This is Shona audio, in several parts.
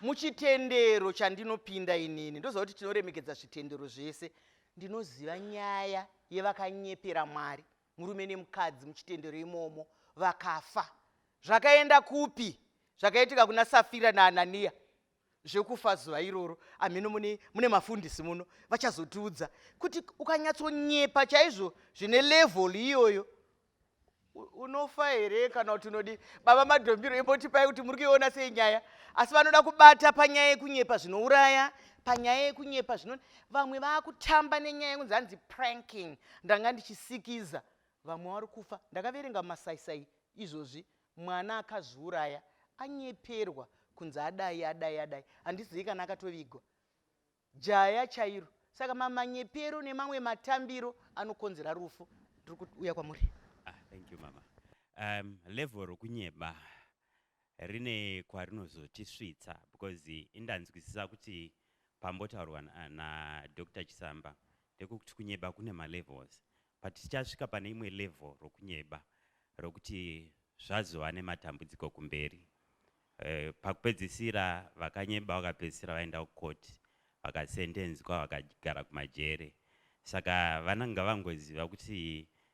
muchitendero chandinopinda inini ndoziva kuti tinoremekedza zvitendero zvese ndinoziva nyaya yevakanyepera mwari murume nemukadzi muchitendero imomo vakafa zvakaenda kupi zvakaitika kuna safira naananiya zvekufa zuva iroro amheno mune, mune mafundisi muno vachazotiudza kuti ukanyatsonyepa chaizvo zvine level iyoyo unofa here kana kuti unodi baba madhombiro imbotipai kuti muri kuiona sei nyaya asi vanoda kubata panyaya yekunyepa zvinouraya panyaya yekunyepa zvino vamwe vakutamba nenyaya yekunzi hanzi pranking ndanga ndichisikiza vamwe vari kufa ndakaverenga masaisai izvozvi mwana akazviuraya anyeperwa kunzi adai adai adai handizivi kana akatovigwa jaya chairo saka mamanyepero nemamwe matambiro anokonzera rufu ndiri kuuya kwamuri ah, thank you mama um, level rokunyeba Rine kwarinozotisvitsa because indanzwisisa kuti pambotaurwa na Doctor Chisamba ndekuti kunyeba kune ma levels but tichasvika pane imwe level rokunyeba rokuti zvazova nematambudziko kumberi. Eh, pakupedzisira vakanyeba vakapedzisira vaenda kucourt vakasendenzwa vakagara kumajere saka vananga vangoziva kuti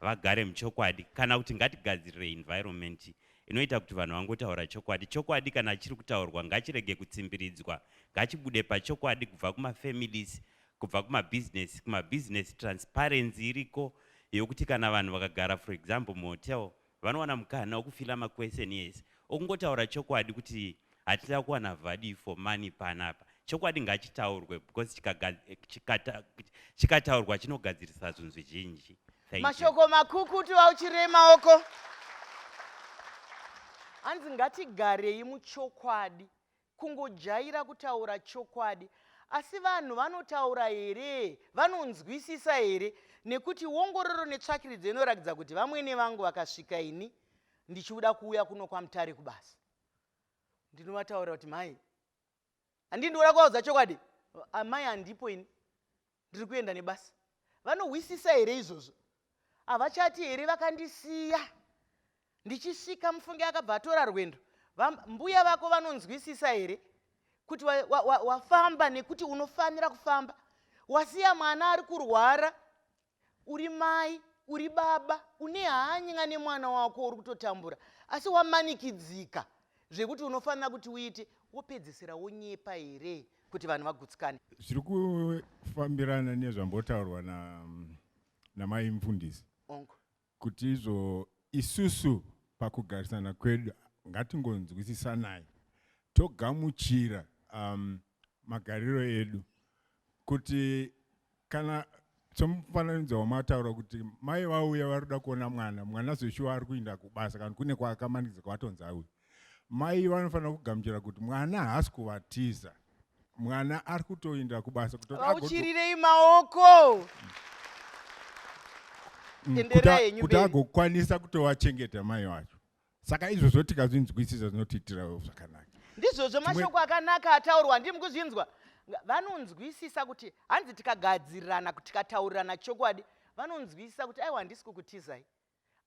vagare muchokwadi kana kuti ngatigadzirire environment inoita kuti vanhu vangotaura chokwadi chokwadi kana chiri kutaurwa ngachirege kutsimbiridzwa ngachibude pachokwadi kubva kumafamilies kubva kumabhizinesi kumabhizinesi transparency iriko yokuti kana vanhu vakagara for example muhotel vanowana mukana wokufila maquestion ese okungotaura chokwadi kuti hatida kuwana vadi for money panapa chokwadi ngachitaurwe because chikataurwa chinogadzirisa zvinhu zvizhinji mashoko makukutu auchirei maoko hanzi ngatigarei muchokwadi Kungojaira kutaura chokwadi. Asi vanhu vanotaura here? Vanonzwisisa here? Nekuti wongororo netsvakiridzo inorakidza kuti vamwene vangu vakasvika ini ndichiuda kuuya kuno kwamutare kubasa. Ndinovataura kuti mai, handii ndikuda kuvaudza chokwadi? Amai handipo ini. ndiri kuenda nebasa vanohwisisa here izvozvo havachati here vakandisiya ndichisvika mufunge akabva atora rwendo mbuya vako vanonzwisisa here kuti wafamba wa, wa, nekuti unofanira kufamba wasiya mwana ari kurwara uri mai uri baba une hanya nemwana wako uri kutotambura asi wamanikidzika zvekuti unofanira kuti uite wopedzisira wonyepa here kuti vanhu vagutsikane zviri kufambirana nezvambotaurwa na namai mfundisi ongo kuti izvo isusu pakugarisana kwedu ngatingonzwisisanai togamuchira um, magariro edu kuti kana somufananidzo wamataura kuti mai vauya vari kuda kuona mwana mwana zveshuwa ari kuinda kubasa kana kune kwaakamanidza kwatonzi auya mai vanofanira kugamuchira kuti mwana haasi kuvatiza mwana ari kutoinda kubasa kutoauchirirei maoko mm, kuti agokwanisa kutovachengeta mai vacho saka izvozvo tikazvinzwisisa zvinotiitirawo zvakanaka ndizvozvo mashoko akanaka ataurwa ndimi kuzvinzwa vanonzwisisa kuti hanzi tikagadzirirana tikataurirana chokwadi vanonzwisisa kuti aiwa handisi kukutizai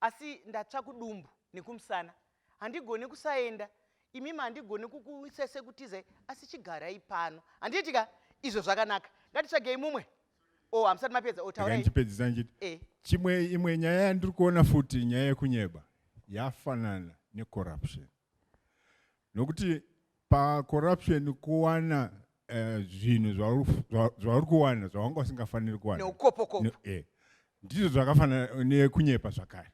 asi ndatsva kudumbu nekumusana handigoni kusaenda imimi handigoni kukuisese kutizai asi chigarai pano handiitika izvo zvakanaka ngatitsvagei mumwe oh hamusati mapedza otauraichipedzisa oh, ndichiti eh. chimwe imwe nyaya yandiri kuona futi nyaya yekunyeba yafanana necorruption nokuti pacorruption kuwana eh, zvinhu uh, zvauri kuwana zvawanga usingafaniri kuwana eh. ndizvo zvakafanana nekunyepa zvakare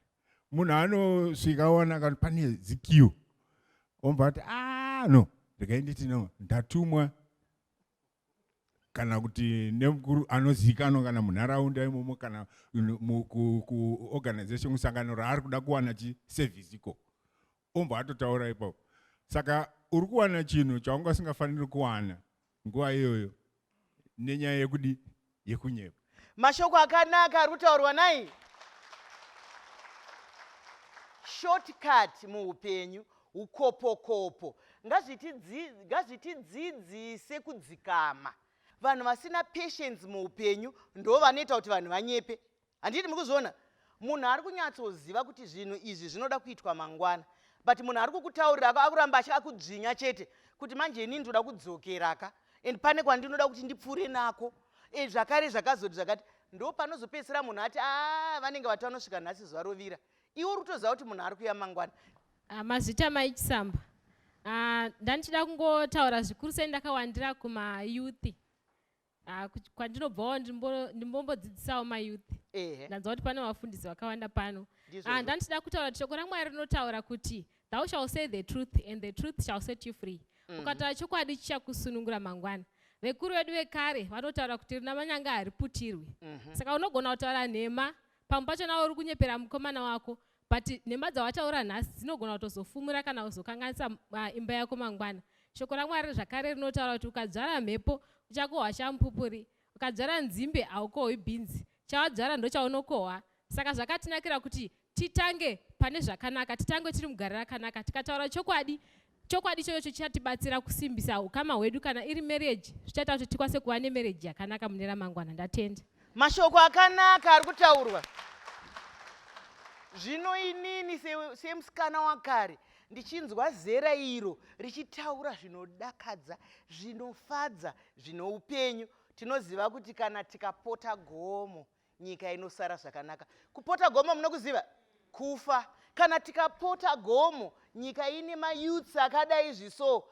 munhu anosvika aona kani pane zikiu omva kuti ah no ndikainditi no ndatumwa kana kuti nemukuru anozivikanwa kana munharaunda imomo kana kuorganization kusangano raari kuda kuwana chiservice iko ombo atotaura ipapo saka uri kuwana chinhu chaungasingafaniri kuwana nguva iyoyo nenyaya yekudi yekunyepa. Mashoko akanaka ari kutaurwa nai shortcut muupenyu ukopokopo ngazvitidzidzise kudzikama vanhu vasina patience muupenyu ndo vanoita kuti vanhu vanyepe handiti mukuzviona munhu ari kunyatsoziva kuti zvinhu izvi zvinoda kuitwa mangwana but munhu ari kukutaurira akuramba achi akudzvinya chete kuti manje inini ndoda kudzokeraka and pane kwandinoda kuti ndipfuure nako e, zvakare zvakazoti zvakati ndo panozopedzisira munhu ati a ah, vanenge vati vanosvika nhasi zuva rovira iwo rutoziva kuti munhu ari kuya mangwana ah, mazvita maichisamba ah, ndandichida kungotaura zvikuru sei ndakawandira kumayouth Ah, kuch- kwandinobvawo ndimbo- ndimbombodzidzisawo mayouth ehe ndanzwa kuti pane vafundisi vakawanda pano Ndizvo Ah, izvo. ndandichida kutaura kuti shoko ramwari rinotaura kuti thou shall say the truth and the truth shall set you free ukataura chokwadi chichakusunungura mangwana vekuru vedu vekare vanotaura kuti rina manyanga hariputirwi saka unogona kutaura nhema pamwe pacho nawo uri kunyepera mukomana wako but nhema dzawataura nhasi dzinogona kutozofumura kana uzokanganisa uh, imba yako mangwana shoko ramwari zvakare rinotaura kuti ukadzvara mhepo uchakohwa shampupuri ukadzvara nzimbe haukohwi bhinzi chawadzvara ndochaunokohwa saka zvakatinakira kuti titange pane zvakanaka titange tiri mugare rakanaka tikataura chokwadi Chokwadi ichocho chichatibatsira kusimbisa ukama hwedu kana iri marriage zvichaita kuti tikwanise kuva nemarriage yakanaka mune ramangwana. Ndatenda. Mashoko akanaka ari kutaurwa. Zvino inini semusikana se wakare ndichinzwa zera iro richitaura zvinodakadza zvinofadza zvine upenyu tinoziva kuti kana tikapota gomo nyika inosara zvakanaka kupota gomo munokuziva kufa kana tikapota gomo nyika ine mayouths akadai zviso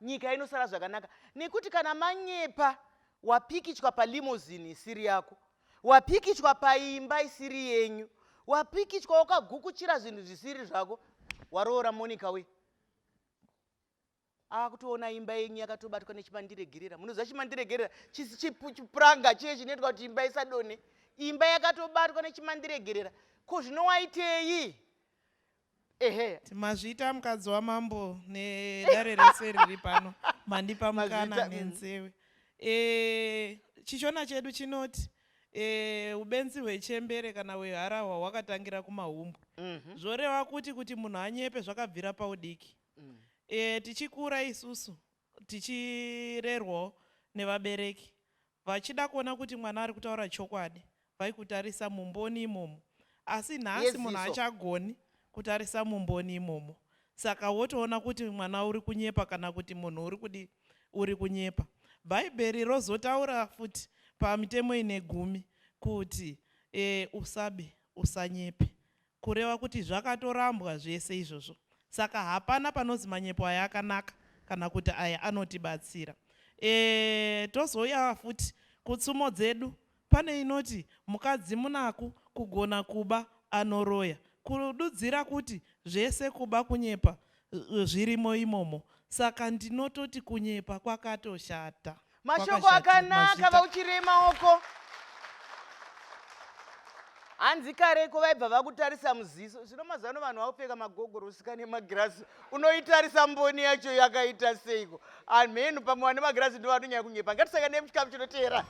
nyika inosara zvakanaka nekuti kana manyepa wapikichwa palimozin isiri yako wapikichwa paimba isiri yenyu wapikichwa wakagukuchira zvinhu zvisiri zvako waroora monica we ava kutoona imba yenyu yakatobatwa nechimandiregerera munoziva chimandiregerera chipuranga chiye chinoitwa kuti imba isadone imba yakatobatwa nechimandiregerera ko zvino waitei ehe mazvita mukadzi wamambo nedare rese riri pano mandipa mukana mm. nenzewe e, chishona chedu chinoti e, ubenzi hwechembere kana hweharahwa hwakatangira kumahumbwe mm -hmm. zvoreva kuti kuti munhu anyepe zvakabvira paudiki mm. e, tichikura isusu tichirerwawo nevabereki vachida kuona kuti mwana ari kutaura chokwadi vaikutarisa mumboni imomo asi nhasi munhu achagoni kutarisa mumboni imomo saka wotoona kuti mwana uri kunyepa kana kuti munhu uri kudi uri kunyepa bhaibheri rozotaura futi pamitemo ine gumi kuti e, usabe usanyepe Kureva kuti zvakatorambwa zvese izvozvo saka hapana panozi manyepo aya akanaka kana kuti aya anotibatsira. Eeh tozouya futi kutsumo dzedu pane inoti mukadzi munaku kugona kuba anoroya. Kududzira kuti zvese kuba kunyepa zvirimo imomo saka ndinototi kunyepa kwakatoshata mashoko akanaka vauchirema uko hanzi kareko vaibva vakutarisa muziso zvino mazano vanhu vakupfeka magogorosi kane magirasi unoitarisa mboni yacho yakaita seiko Amheno pamwe vane magirazi ndivo vanonyanya kunyepa. Ngatisangane nemuchikamu chinoteera.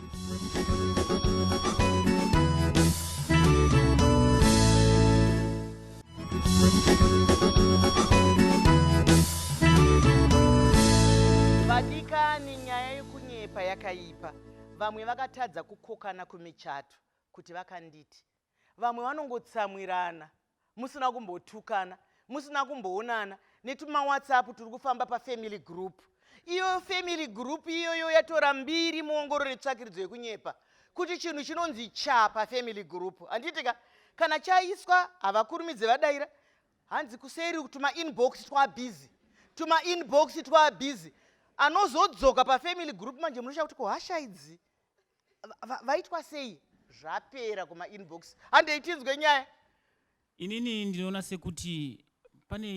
Vadikani, nyaya yekunyepa yakaipa. Vamwe vakatadza kukokana kumichato kuti vakanditi vamwe vanongotsamwirana musina kumbotukana musina kumboonana netumawhatsapp turi kufamba pafamily group iyo family group iyoyo yatora mbiri muongororo yetsvakiridzo yekunyepa kuti chinhu chinonzi cha pafamily group handiitika kana chaiswa havakurumidze vadaira hanzi kuseri tuma inbox twabhizi tuma inbox twabhizi anozodzoka pafamily group manje munoshaa kuti kuhasha idzi vaitwa sei zvapera kuma inbox handei tinzwe nyaya inini ndinoona sekuti pane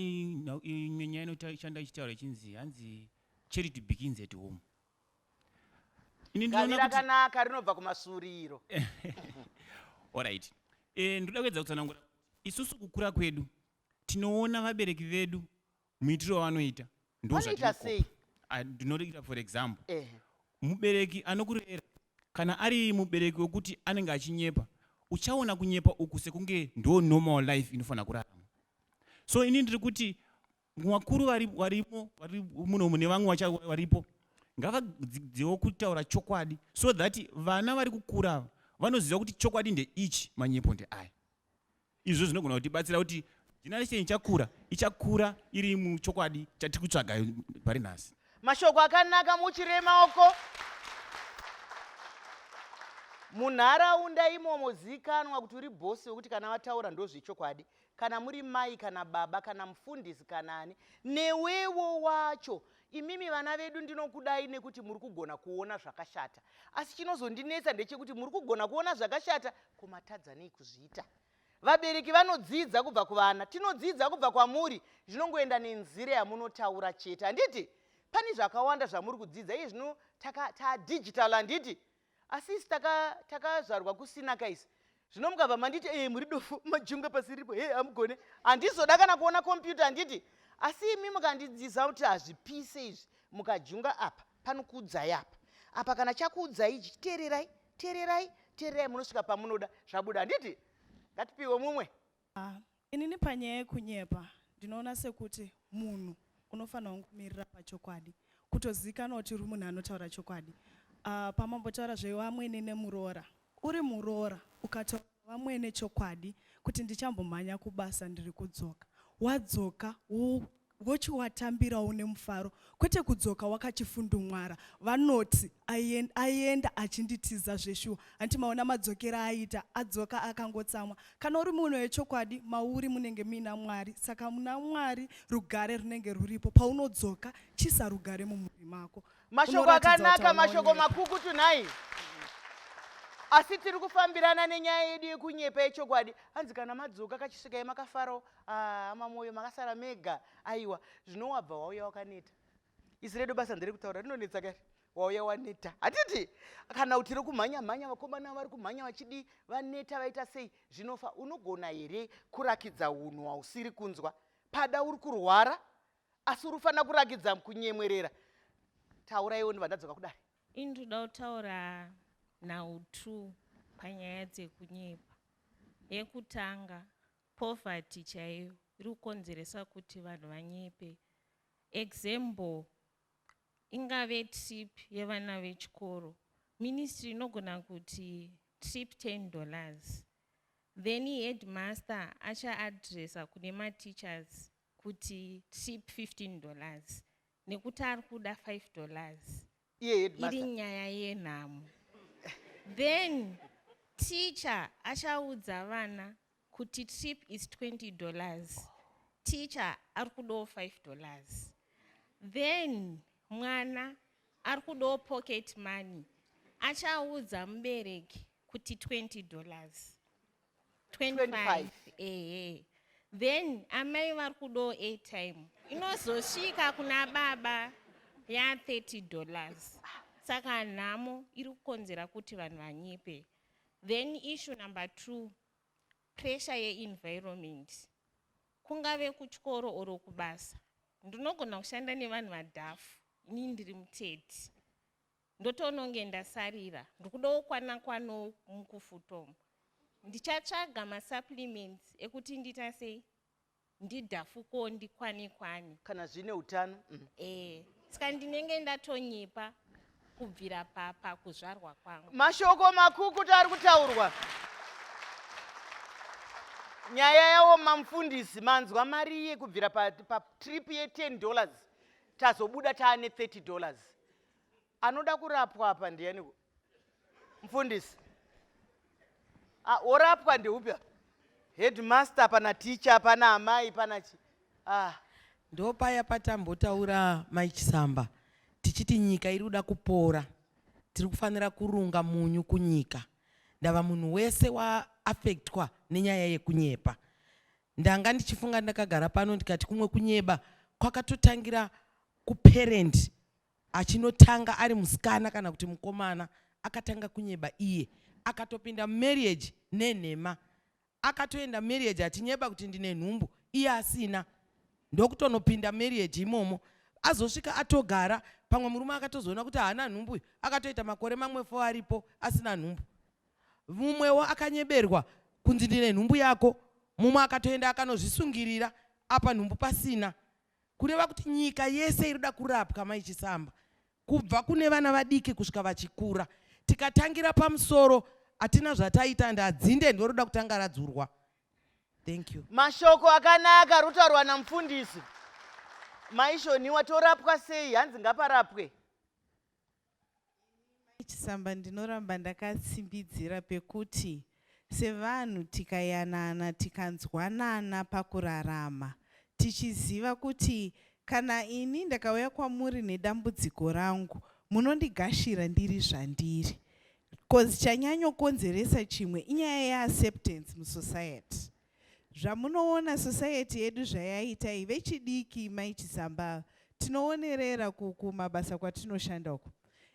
imwe nyaya inoshanda ichitaura ichinzi hanzi charity begins at home rakanaka rinobva kumasuriro orit eh, ndoda kuedza kutsanangura isusu kukura kwedu tinoona vabereki vedu muitiro wavanoita Vanoita sei? ndozvatinokopa Ah, ndinorekita for example Ehe. mubereki anokurera kana ari mubereki wekuti anenge achinyepa uchaona kunyepa uku sekunge ndo normal life inofanira kurarama so ini ndiri kuti vakuru vari- varimo vari muno mune vamwe vacha- varipo ngavadzidziwo kutaura chokwadi so that vana vari kukura ava vanoziva kuti chokwadi ndeichi manyepo ndeaya Izvo zvinogona kutibatsira kuti generation ichakura ichakura iri muchokwadi chatiri kutsvaga pari nhasi. Mashoko akanaka muchiree maoko. Munharaunda imomo zikanwa kuti uri bosi wekuti kana vataura ndozvechokwadi kana muri mai kana baba kana mufundisi kana ani newewo wacho Imimi vana vedu ndinokudai nekuti muri kugona kuona zvakashata. Asi chinozondinetsa ndechekuti muri kugona kuona zvakashata kumatadza nei kuzviita. Vabereki vanodzidza kubva kuvana, tinodzidza kubva kwamuri, zvinongoenda nenzira yamunotaura chete. Handiti? Pane zvakawanda zvamuri kudzidza iye zvino ta digital handiti? Asi isi taka takazvarwa kusina kais. Zvino mukabva manditi eh muri dofo majunga pasi ripo hey amugone. Andizoda kana kuona computer anditi asi imi mukandidziza kuti hazvipise izvi mukajunga apa panokuudzai apa. Apa kana chakuudzai ichi teererai teererai teererai munosvika pamunoda zvabuda anditi ngatipiwe mumwe Ah, inini panyaya yekunyepa ndinoona sekuti munhu unofanirwa kumirira pachokwadi kutozikanwa kuti uri munhu anotaura chokwadi uh, ah, pamambotaura zvevamwene nemuroora uri muroora ukataura vamwene chokwadi kuti ndichambomhanya kubasa ndiri kudzoka wadzoka vochiwatambirawo nemufaro kwete kudzoka wakachifundumwara vanoti aienda achinditiza zveshuwa hanti maona madzokera aita adzoka akangotsamwa kana uri munhu wechokwadi mauri munenge muina mwari saka muna mwari rugare runenge ruripo paunodzoka chisa rugare mumhuri mako mashoko akanaka mashoko makukutu nhai asi tiri kufambirana nenyaya yedu yekunyepa yechokwadi hanzi kana madzoka kachisvikai makafarawo Ah, hama moyo makasara mega aiwa zvino wabva wauya wakaneta isi redu basa ndere kutaura rinonetsa kari wauya waneta hatiti kana kuti rekumhanya mhanya vakomana vari kumhanya vachidii vaneta vaita sei zvinofa unogona here kurakidza unhu hausiri kunzwa pada uri kurwara asi uri kufanira kurakidza kunyemwerera tauraiwo ndibva ndadzoka kudari ini ndoda kutaura nhau two panyaya dzekunyepa yekutanga Poverty chaiyo iri kukonzeresa kuti vanhu vanyepe. Example ingave trip yevana vechikoro. Ministry inogona kuti trip 10 dollars. Then headmaster achaadressa kune mateachers kuti trip 15 dollars nekuti ari kuda 5 dollars. iye headmaster iri nyaya yenhamo then teacher achaudza vana kuti trip is 20 dollars teacher ari kudawo 5 dollars then mwana ari kudawo pocket money achaudza mubereki kuti 20 dollars 25 ehe then amai vari kudawo airtime inozosvika kuna baba ya 30 dollars saka nhamo iri kukonzera kuti vanhu vanyipe then issue number two pressure yeenvironment kungave kutyoro oro kubasa ndinogona kushanda nevanhu vadhafu ini ndiri muteti Ndotononge ndasarira ndikudawo kwana kwanowo mukufutom ndichatsvaga masupplements ekuti ndita sei ndidhafuko ndikwane kwane kana zvine utano mm. eh saka ndinenge ndatonyepa kubvira papa kuzvarwa kwangu mashoko makukuta ari kutaurwa nyaya yawo mamufundisi manzwa mari ye kubvira patrip pa ye 10 dollars tazobuda taane 30 dollars anoda kurapwa apa ndiyaniko mfundisi ah, orapwa ndeupi apa headmaster pana ticha pana amai pana chi ah. ndopaya patambotaura mai chisamba tichiti nyika iri kuda kupora tiri kufanira kurunga munyu kunyika ndava munhu wese waaffectwa nenyaya yekunyepa ndanga ndichifunga ndakagara pano ndikati kumwe kunyeba kwakatotangira kuparent achinotanga ari musikana kana kuti mukomana akatanga kunyeba iye akatopinda mumarriage nenhema akatoenda marriage achinyeba kuti ndine nhumbu iye asina ndokutonopinda marriage imomo azosvika atogara pamwe murume akatozoona kuti haana nhumbu uyu akatoita makore mamwe fo aripo asina nhumbu mumwewo akanyeberwa kunzi ndine nhumbu yako mumwe akatoenda akanozvisungirira apa nhumbu pasina kureva kuti nyika yese irikuda kurapwa mai chisamba kubva kune vana vadiki kusvika vachikura tikatangira pamusoro hatina zvataita and adzinde ndoroda kutanga radzurwa thank you mashoko akanaka rotaurwa namufundisi maishoniwa torapwa sei hanzi ngaparapwe Mai Chisamba ndinoramba ndakatsimbidzira pekuti sevanhu tikayanana tikanzwanana pakurarama tichiziva kuti kana ini ndakauya kwamuri nedambudziko rangu munondigashira ndiri zvandiri coz chanyanyokonzeresa chimwe inyaya yeacceptance musociety. Zvamunoona society yedu zvayaita iyi vechidiki mai Chisamba tinoonerera kuku mabasa kwatinoshanda uku.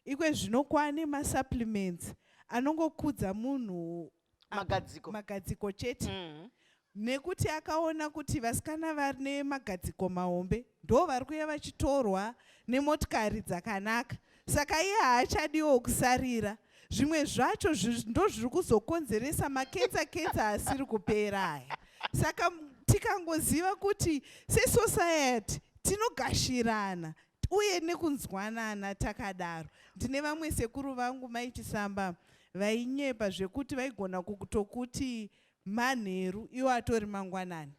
Ikwe zvino kwane ma supplements anongokudza munhu magadziko, magadziko chete mm -hmm. nekuti akaona kuti vasikana vane magadziko mahombe ndo vari kuya vachitorwa nemotikari dzakanaka saka iye haachadiwo kusarira zvimwe zvacho ndozviri kuzokonzeresa maketsa ketsa asiri kupera aya saka tikangoziva kuti sesociety tinogashirana uye nekunzwanana takadaro ndine vamwe sekuru vangu maichisamba vainyepa zvekuti vaigona kutokuti manheru iwo atori mangwanani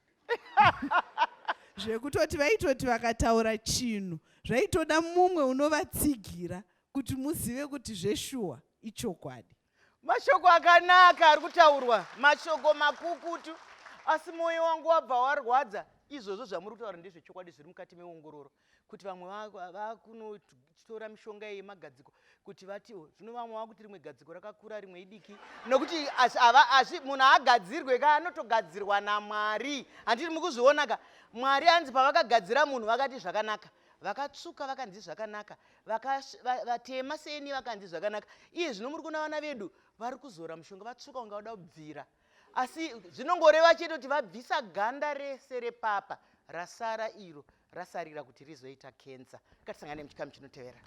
zvekutoti vaitoti vakataura chinhu zvaitoda mumwe unovatsigira kuti muzive kuti zveshuwa ichokwadi mashoko akanaka ari kutaurwa mashoko makukutu asi mwoyo wangu wabva warwadza izvozvo zvamuri kutaura ndezvechokwadi zviri mukati meongororo kuti vamwe vakunotora mishonga yemagadziko kuti vati oh, zvino vamwe vakuti rimwe gadziko rakakura rimwe idiki nokuti asi munhu haagadzirwe ka anotogadzirwa namwari handiti mukuzviona ka mwari anzi pavakagadzira munhu vakati zvakanaka vakatsvuka vakanzi zvakanaka vatema seni vakanzi zvakanaka iye zvino muri kuona vana vedu vari kuzora mushonga vatsvuka unga vada kubvira asi zvinongoreva chete kuti vabvisa ganda rese repapa rasara iro rasarira kuti rizoita cancer ngatisangane muchikamu chinotevera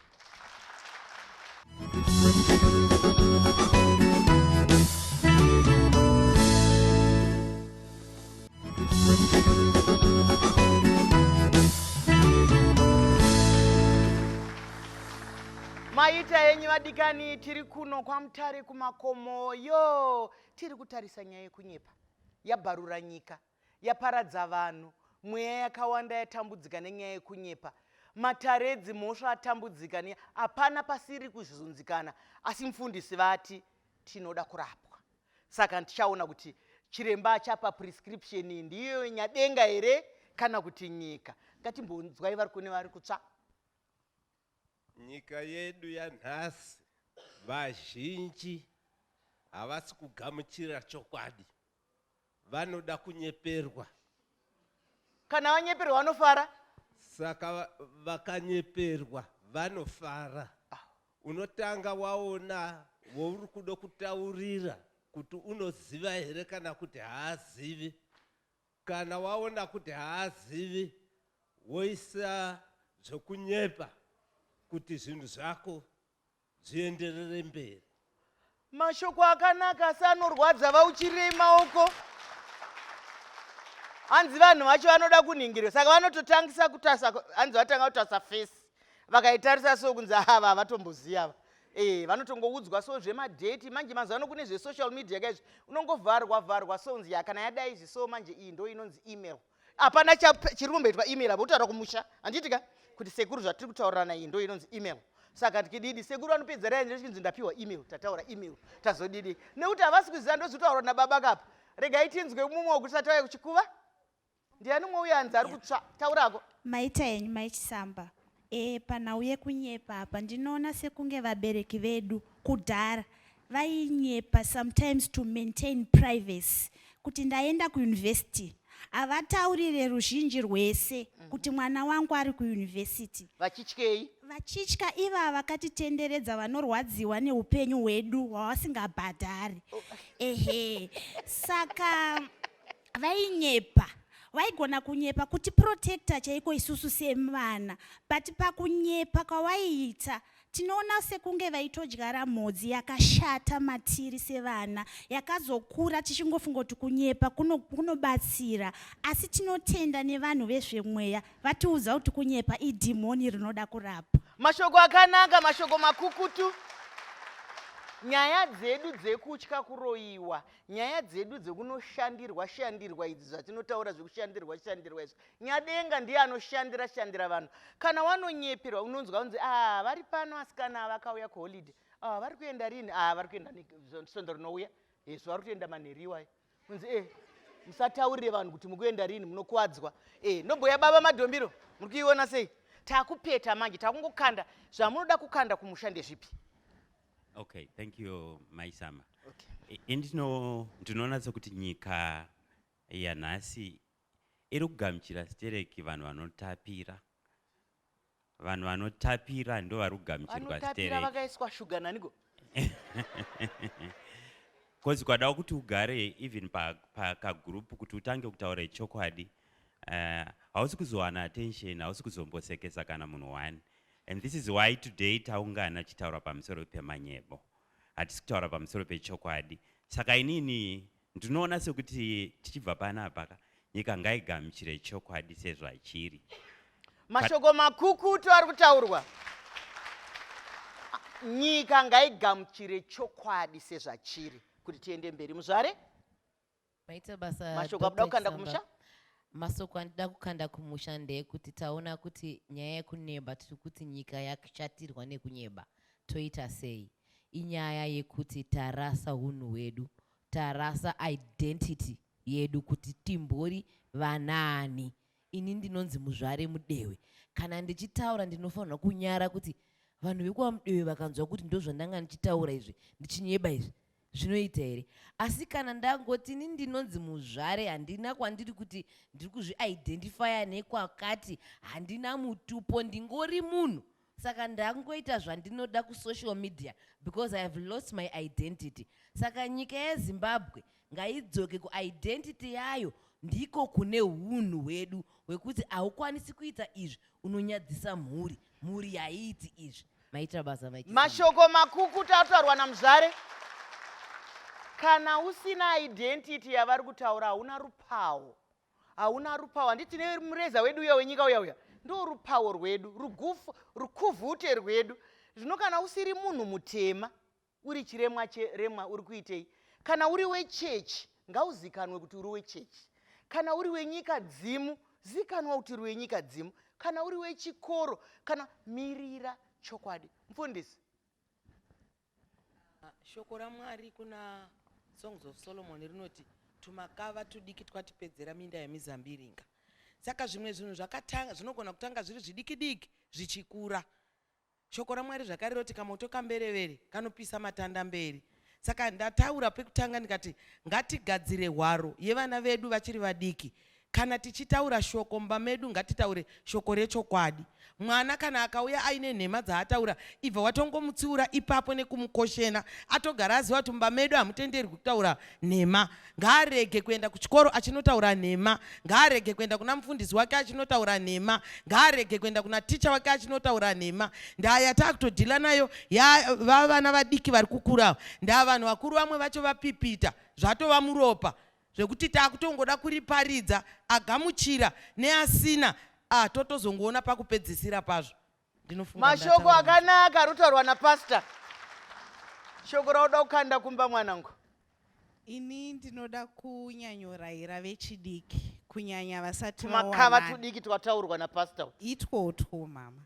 maita henyu vadikani tiri kuno kwamutare kumakomo yo tiri kutarisa nyaya yekunyepa yabharura nyika yaparadza vanhu, mweya yakawanda yatambudzika nenyaya yekunyepa, matare edzimhosva atambudzika ne hapana pasiri kuzvizunzikana, asi mfundisi vati tinoda kurapwa. Saka tichaona kuti chiremba achapa prescription iyi ndiyo nyadenga here kana kuti nyika. Ngatimbonzwai vari kune vari kutsva. Nyika yedu yanhasi vazhinji havasi kugamuchira chokwadi vanoda kunyeperwa kana vanyeperwa vanofara saka va- vakanyeperwa vanofara unotanga waona wouri kuda kutaurira kuti unoziva here kana kuti haazivi kana waona kuti haazivi woisa zvekunyepa kuti zvinhu zvako zvienderere mberi mashoko akanaka asi anorwadza vauchirirei maoko hanzi vanhu vacho vanoda kunhingirwa saka vanototangisa kutasa hanzi vatanga kutasa fesi vakaitarisa so kunzi ava havatomboziva ava e vanotongoudzwa so zvemadheti manje mazuva ano kune zvesocial media kaizvi unongovharwa vharwa so nzi ya kana yadai izvi so manje iyi ndo inonzi email hapana chiri kumboitwa email apa kutaura kumusha handiti ka kuti sekuru zvatiri kutaurirana iyi ndo inonzi email saka ndikididi sekuru vanopedza rai ndichinzi ndapiwa email tataura email tazodidi nekuti havasi kuziva ndozotaura nababa kapa regai tinzwe mumwe wekuti satauya kuchikuva ndiani umwe uye hanzi ari kutsva taurako maita henyu maichisamba E, panhau yekunyepa apa ndinoona sekunge vabereki vedu kudhara vainyepa sometimes to maintain privacy kuti ndaenda kuyunivhesiti havataurire ruzhinji rwese mhm. kuti mwana wangu ari kuyunivhesiti vachityei vachitya iva vakatitenderedza vanorwadziwa neupenyu hwedu hwavasingabhadhari oh. ehe saka vainyepa waigona kunyepa kuti protector chaiko isusu semvana but pakunyepa kwawaiita tinoona sekunge vaitodyara mhodzi yakashata matiri sevana yakazokura tichingofunga kuti kunyepa kunobatsira kuno asi tinotenda nevanhu vezvemweya vatiudza kuti kunyepa idhimoni rinoda kurapa mashoko akanaka mashoko makukutu nyaya dzedu dzekutya kuroyiwa Nyaya dzedu dzekunoshandirwa shandirwa idzi zvatinotaura zvekushandirwa shandirwa izvi nyadenga ndiye anoshandira shandira vanhu kana wanonyeperwa unonzwa unzi ah vari pano asikana vakauya kuholiday ah vari kuenda rini ah vari kuenda svondo rinouya hezvo eh, vari kutoenda manheri iwayo unzi eh musataurire vanhu kuti mukuenda rini munokuwadzwa eh nobhoya baba madhombiro muri kuiona sei takupeta manje takungokanda zvamunoda kukanda kumusha ndezvipi Okay, thank you Mai Sama. Okay. Ini ndino ndinonatsa kuti nyika yanhasi iri kugamuchira stereki vanhu vanotapira vanhu vanotapira ndo vari kugamuchirwa stereki vakaiswa shuga naniko bcause kwadawo kuti ugare even pakagurupu kuti utange kutaura chokwadi eh, hausi kuzowana attention hausi kuzombosekesa kana munhu one And this is why today taungana tichitaura pamusoro pemanyebo. Hatisi kutaura pamusoro pechokwadi. Saka inini ndinoona sekuti tichibva panapa ka nyika ngaigamuchire chokwadi sezvachiri. Mashoko makukutu ari kutaurwa. Nyika ngaigamuchire chokwadi sezvachiri kuti tiende mberi muzvare. Maita basa. Mashoko akuda kukanda kumusha? Masoko andida kukanda kumusha ndeyekuti taona kuti nyaya yekuneba tiri kuti nyika yakushatirwa nekunyeba toita sei? Inyaya yekuti tarasa hunhu hwedu, tarasa identity yedu kuti timbori vanaani. Ini ndinonzi Muzvare Mudewe. Kana ndichitaura ndinofanirwa kunyara kuti vanhu vekuva Mudewe vakanzwa kuti ndozvandanga ndichitaura izvi, ndichinyeba izvi. zvinoita here asi kana ndangoti ini ndinonzi muzvare handina kwandiri kuti ndiri kuzviidentifya nekwakati handina mutupo ndingori munhu saka ndangoita zvandinoda kusocial media because i have lost my identity saka nyika yezimbabwe ngaidzoke kuidentity yayo ndiko kune unhu hwedu hwekuti haukwanisi kuita izvi unonyadzisa mhuri mhuri haiiti izvi maitira basa maitisa mashoko makukuta ataurwa namuzvare kana usina identity yavari kutaura hauna rupawo hauna rupawo handiti nemureza wedu uya wenyika uya uya ndo rupawo rwedu rukufu rukuvhute rwedu zvino kana usiri munhu mutema Uri chiremwa che remwa uri kuitei? Kana uri wechechi ngauzikanwe kuti uri wechechi. Kana uri wenyika dzimu zikanwa kuti uri wenyika dzimu. Kana uri wechikoro kana mirira chokwadi. Mfundisi. Ah, shoko raMwari kuna Songs of Solomon rinoti tumakava tudiki twatipedzera minda yemizambiringa saka zvimwe zvinhu zvakatanga zvinogona kutanga zviri zvidikidiki zvichikura Shoko raMwari zvakare roti kamoto kamberevere kanopisa matanda mberi. Saka ndataura pekutanga ndikati ngatigadzire hwaro yevana vedu vachiri vadiki. Kana tichitaura shoko mumba medu ngatitaure shoko rechokwadi. Mwana kana akauya aine nhema dzaataura, ibva watongomutsiura ipapo nekumukoshena. Atogara aziva kuti mumba medu hamutenderwi kutaura nhema. ngaarege kuenda kuchikoro achinotaura nhema ngaarege kuenda kuna mufundisi wake achinotaura nhema ngaarege kuenda kuna ticha wake achinotaura nhema ndaa yataakutodhila nayo yava vana vadiki vari kukurawo ndaa vanhu vakuru vamwe vacho vapipita zvatova muropa zvekuti taakutongoda kuriparidza agamuchira neasina ah, totozongoona pakupedzisira pazvo mashoko akanaka ari kutaurwa napastor shoko rauda kukanda kumba mwanangu ini ndinoda kunyanyorayira vechidiki kunyanya vasati makava tudiki twataurwa napastor itwotwo mama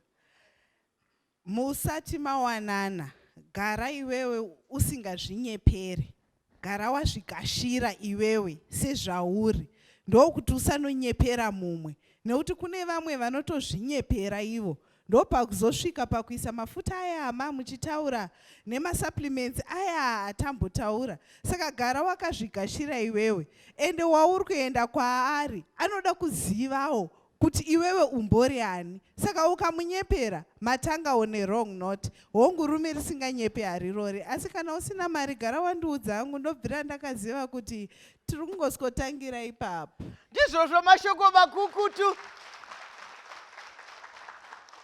musati mawanana gara iwewe usingazvinyepere Gara wazvikashira iwewe sezvauri ndokuti usanonyepera mumwe nekuti kune vamwe vanotozvinyepera ivo ndopakuzosvika pakuisa mafuta aya ama muchitaura nemasupplements aya atambotaura saka gara wakazvigashira iwewe ende wauri kuenda kwaari anoda kuzivawo kuti iwewe umbori ani saka ukamunyepera matanga on a wrong note hongu rume risinganyepe harirori asi kana usina mari gara wandiudza hangu ndobvira ndakaziva kuti tiri kungosikotangira ipapo ndizvozvo mashoko makukutu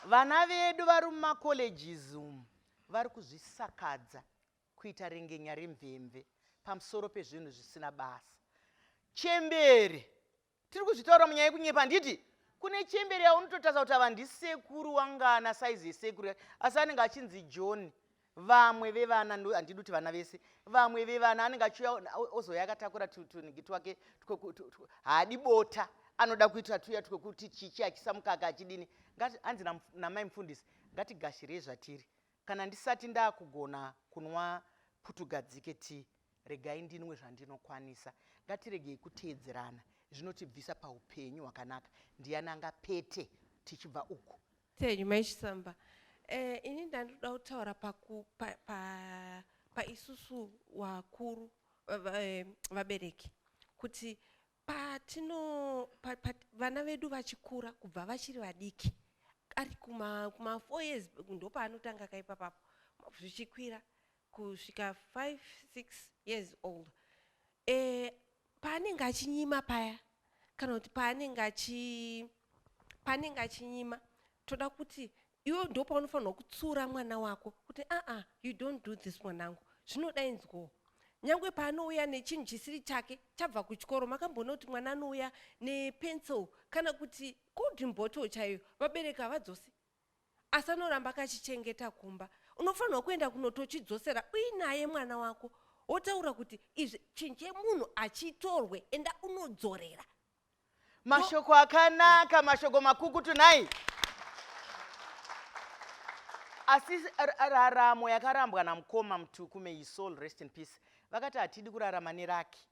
vana vedu vari mumacolleges umu vari kuzvisakadza kuita rengenya remvemve pamusoro pezvinhu zvisina basa chembere Tiri kuzvitaura munyaya yekunyepa handiti? Kune chembere yaunototarisa kuti ava ndisekuru wangana saizi yesekuru yake asi anenge achinzi John. Vamwe vevana handidi kuti vana vese. Vamwe vevana anenge achiuya ozouya akatakura tunigi twake haadi bota anoda kuita tuya twekuti chichi achisa mukaka achidini hanzi namai mufundisi ngatigashirei zvatiri Kana ndisati ndakugona kunwa putugadzike tea regai ndinwe zvandinokwanisa. Ngatiregei kuteedzerana zvinotibvisa paupenyu hwakanaka ndiyani angapete tichibva uku. Thank you mai Chisamba. Eh, ini ndandoda kutaura paku pa, pa, pa isusu wakuru eh, vabereki kuti patino pa, pa, vana vedu vachikura kubva vachiri vadiki ari kuma, kuma four years ndopaanotanga kaipapapo zvichikwira kusvika five six years old e, paanenge achinyima paya kana kuti paanenge achi paanenge achinyima toda kuti iwe ndo paunofanirwa kutsiura mwana wako kuti aa ah, ah, you don't do this mwanangu zvinoda inzwawo nyange paanouya nechinhu chisiri chake chabva kuchikoro makamboona kuti mwana anouya nepencil kana kuti golden bottle chaiyo vabereki havadzosi asi anoramba akachichengeta kumba unofanirwa kuenda kunotochidzosera uinaye mwana wako wotaura kuti izvi chinhu chemunhu achitorwe enda unodzorera mashoko akanaka mashoko makukutu nhai asi raramo yakarambwa namukoma mutuku may his soul rest in peace vakati hatidi kurarama neraki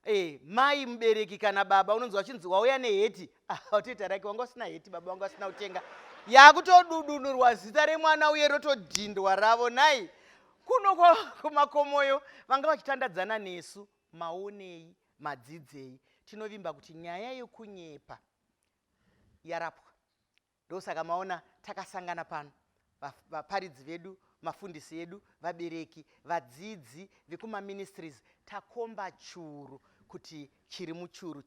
Eh, mai mubereki kana baba unonzi wachinzi wauya neheti watoita ah, rake wanga usina heti baba wanga usina kutenga yakutodudunurwa zita remwana uye rotodhindwa ravo nhai kuno kumakomoyo vanga vachitandadzana nesu Maonei? Madzidzei? Tinovimba kuti nyaya yekunyepa yarapwa. Ndosaka maona takasangana pano, vaparidzi vedu, mafundisi edu, vabereki, vadzidzi vekumaministries, takomba churu kuti chiri muchuru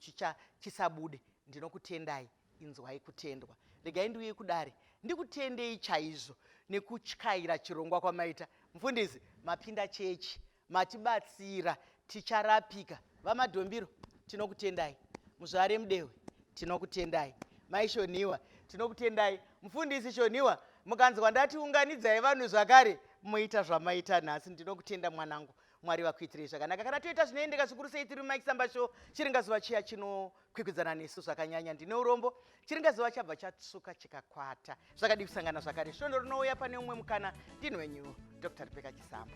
chisabude. Ndinokutendai. Inzwai kutendwa. Regai ndiuye kudare ndikutendei chaizvo nekutyaira chirongwa kwamaita. Mfundisi, mapinda chechi, matibatsira, ticharapika. VaMadhombiro, tinokutendai. Muzvare Mudehwe, tinokutendai. Mai Shonhiwa, tinokutendai. Mfundisi Shonhiwa, mukanzwa ndati unganidzai vanhu zvakare, moita zvamaita nhasi. Ndinokutenda mwanangu. Mwari vakuitirei zvakanaka. Kana toita zvinoendeka zvikuru sei tiri muMike Samba Show, chiringazuva chiya chino kwikwidzana nesu zvakanyanya ndine urombo chiringazuva chabva chatsvuka chikakwata zvakadii kusangana zvakare svondo rinouya pane umwe mukana ndini wenyu dr rebeka chisamba